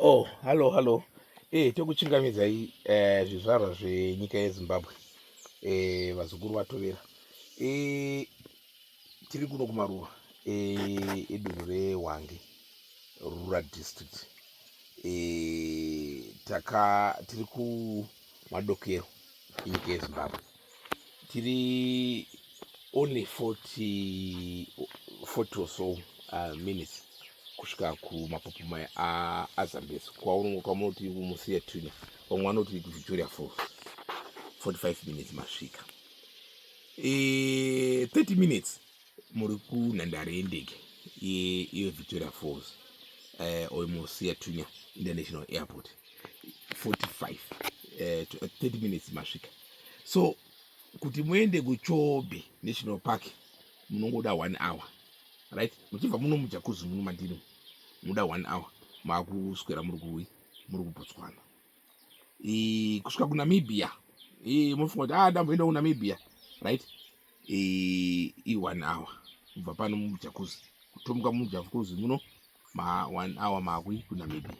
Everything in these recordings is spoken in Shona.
Oh, hallo hallo. Eh, tokuchingamidzai eh, zvizvarwa zvenyika yeZimbabwe eh, vazukuru vaTovera eh, tiri kuno kumaruwa eh, edunhu reHwange rural district eh, taka tiri kumadokero enyika yeZimbabwe tiri only 40 40 or so uh, minutes kusvika kumapopo maya azambezi kwaunongo kwamunoti kumusiya tuna vamwe vanoti victoria for 45 minutes masvika e, eh, 30 minutes muri kunhandare yendege yevictoria falls eh, oimosiya tunya international airport 45 30 eh, minutes masvika so kuti muende kuchobe national park munongoda one hour right muchibva muno mujakuzi muno mandiri munoda one hour maakuswera muri kuwi muri kubotswana kusvika kunamibia munofunga kuti a ah, ndamboenda kunamibia right i one hour kubva pano mujakuzi kutomuka mujakuzi muno ma one hour makwi kunamibia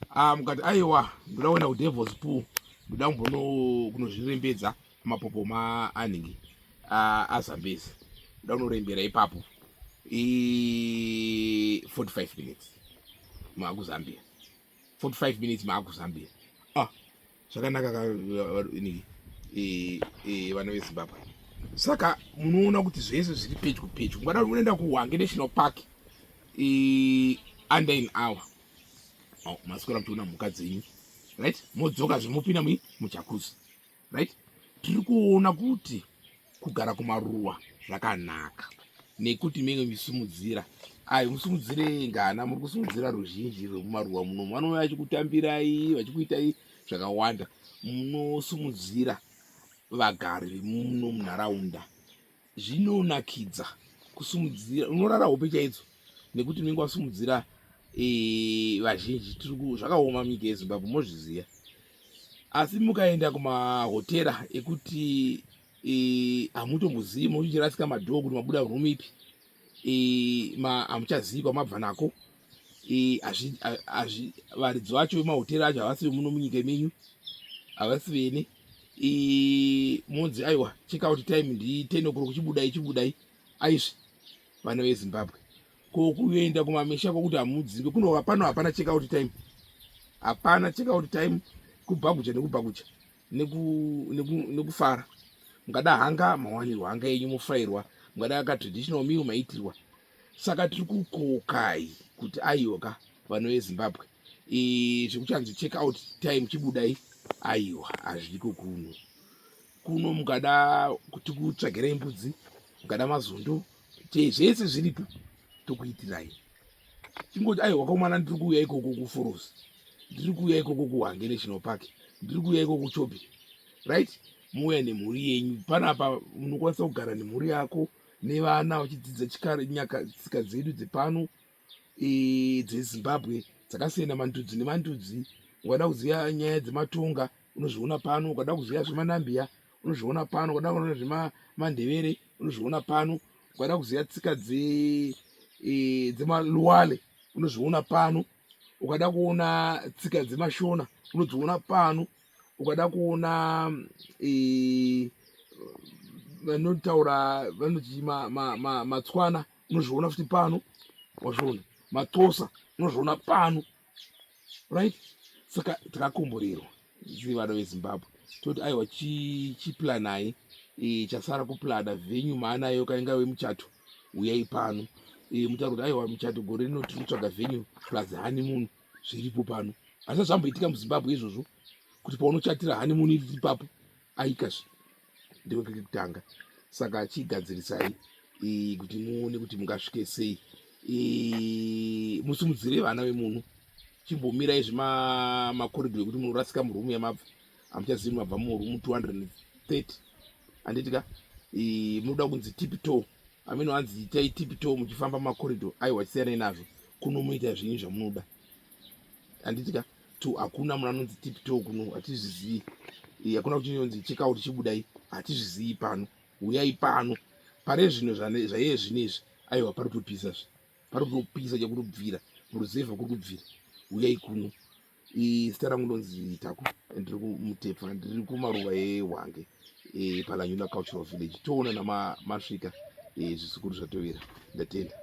ah, mukati aiwa ndoda kuenda kudevils pool ndoda kumbono kunozvirembedza mapopo maanhingi ah, azambezi ndoda kunorembera ipapo i 45 minutes maakuzambia 45 minutes maakuzambia zvakanaka ka ini e, e, vana vezimbabwe saka munoona kuti zvese zviri pedyo pedyo ngada unoenda kuhwange national park e, under an hour oh, maswera muchiona mhuka dzenyu right modzoka zvemopinda mui mujakuzi right tiri kuona kuti kugara kumaruwa zvakanaka nekuti menge misimudzira ayi musimudzire ngana muri kusimudzira ruzhinji rwekumaruwa muno vanouya vachikutambirai vachikuitai zvakawanda munosimudzira vagari vemuno munharaunda zvinonakidza kusimudzira unorara hope chaidzo nekuti menge wasimudzira eh, vazhinji zvakaoma mike yezimbabwe mozviziva asi mukaenda kumahotera ekuti e, hamutombozivi muchirasika madhoo kuti mabuda room ipi e, hamuchazivi kwamabva nako e, varidzo vacho vemahotera acho havasi vemuno munyika menyu havasi vene monzi aiwa check out time ndi ten o'clock chibudai chibudai aizvi vana vezimbabwe Ko kuenda kumamisha kokuti hamudzinge kuno pano hapana check out time. Hapana check out time kubhakucha nekubhakucha nekufara. Neku, neku mukada hanga mawanirwa hanga yenyu mofrairwa mukada ka traditional meal maitirwa. Saka tiri kukokai kuti ayoka vano veZimbabwe zvekuchanzi check out time chibudai aiwa hazviko kuno kuno mukada kuti kutsvagirei mbudzi mukada mazondo zvese zviripo tokuitirai chingoti ai wakaumana ndiri kuuya ikoko kuforosi ndiri kuuya ikoko kuhange national park ndiri kuuya ikoko chopi right muuya nemhuri yenyu panapa munokwanisa kugara nemhuri yako nevana vachidzidza chikare nyaka tsika dzedu dzepano dzezimbabwe dzakasiyana mandudzi nemandudzi ukada kuziva nyaya dzematonga unozviona pano ukada kuziva zvemanambiya unozviona pano ukada kuona zvemandevere unozviona pano ukada kuziva tsika dzemaluwale unozviona pano ukada kuona tsika dzemashona unodziona pano ukada kuona vanotaura vanotii matswana ma, ma, ma unozviona futi pano wazviona matosa unozviona pano right saka takakomborerwa zii vana vezimbabwe toti aiwa chiplanai e, chasara kuplana venyu maanayo kainga wemuchato uyai pano e, mutaura kuti aiwa muchato gore rino tiri kutsvaga venyu plus honeymoon zviripo pano asi zvamboitika muzimbabwe izvozvo kuti paunochatira honeymoon iri ipapo aikazve ndiko kiri kutanga saka chigadzirisai kuti muone kuti mungasvike sei musimudzire vana vemunhu chimbomirai zvemakoridho ekuti munorasika murumu yamabva hamuchazivi mabva murumu 230 handiti ka munoda kunzi tipito amene hanzi itai tipito muchifamba makoridho aiwa chisiyanai nazvo kunomuita zvinyi zvamunoda handitika to hakuna munhu anonzi tipto kuno hatizvizivi eh, hakuna kuti inonzi chekawo tichibudai hatizvizivi pano huyai pano pane zvinhu zvaiye zvino izvi aiwa pari kutopisa zve pari kutopisa chekuri kubvira muruzevha kuri kubvira huyai kuno eh, zita rangu ndonzi taku ndiri kumutepfa ndiri kumaruva ehwange eh, palanyula cultural village toona namasvika zvisukuru zvatovira ndatenda